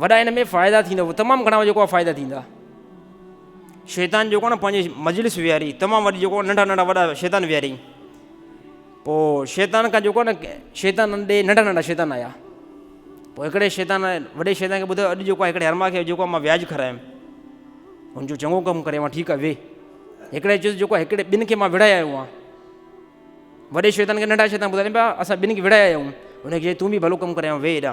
وڏا ان ۾ فائدا ٿيندا تمام گھڻا جيڪو آ فائدا ٿيندا شيطان جيڪو نه پنهنجي مجلس وياري تمام وڏي جيڪو ننڍا ننڍا وڏا شيطان وياري پو شيطان کا جيڪو نه شيطان ڏي ننڍا ننڍا شيطان آيا پو هڪڙي شيطان وڏي شيطان کي ٻڌايو اڄ جيڪو آ هڪڙي هرما کي جيڪو آ مان وياج کرايم هن جو چڱو ڪم ڪري مان ٺيڪ آ وي هڪڙي چيس جيڪو هڪڙي ٻن کي مان وڙهايا آيو آ وڏي شيطان کي ننڍا شيطان ٻڌايو اسان ٻن کي وڙهايا آيون هن کي تون به ڀلو ڪم ڪري وي هيڏا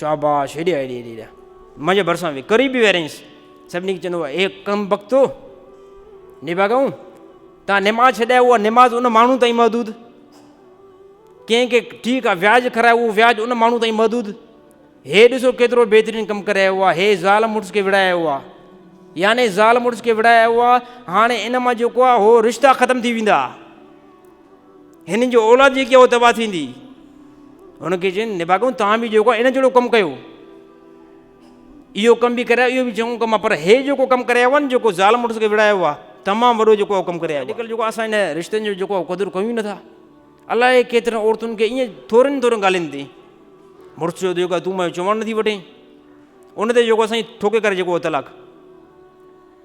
شاباش هيڏي هيڏي هيڏي هيڏي منهنجي ڀرسان وي قريب به ويرينس سڀني کي چوندو هو اي ڪم بختو نباگون تان نماز ڇڏائي اها نماز ان ماڻهو تائين محدود ڪنهن کي ٺيڪ آ وياج کرايو اهو وياج ان ماڻهو تائين محدود هي ڏسو ڪيترو بهترين ڪم ڪري آيو آهي هي زال مڙس کي وڙهائي آيو آهي يعني زال مڙس کي وڙهائي آيو آهي هاڻي ان مان جيڪو آهي هو رشتا ختم ٿي ويندا هنن جو اولاد جيڪي هو تباهه ٿيندي هن کي چين نباگو توهان به جيڪو ان جهڙو ڪم ڪيو اهو ڪم به ڪرايو اهو به چڱو ڪم پر هي جيڪو ڪم ڪرايو آهي نه جيڪو ظالم مڙس کي وڙهايو آهي تمام وڏو جيڪو ڪم ڪرايو آهي اڄڪلهه جيڪو اسان هن رشتن جو جيڪو قدر ڪيون ئي نٿا الائي ڪيترن عورتن کي ائين ٿورن ٿورن ڳالهين تي مڙس چيو جيڪو تون مايو چوڻ نٿي وٺين ان تي جيڪو سائين ٺوڪي ڪري جيڪو طلاق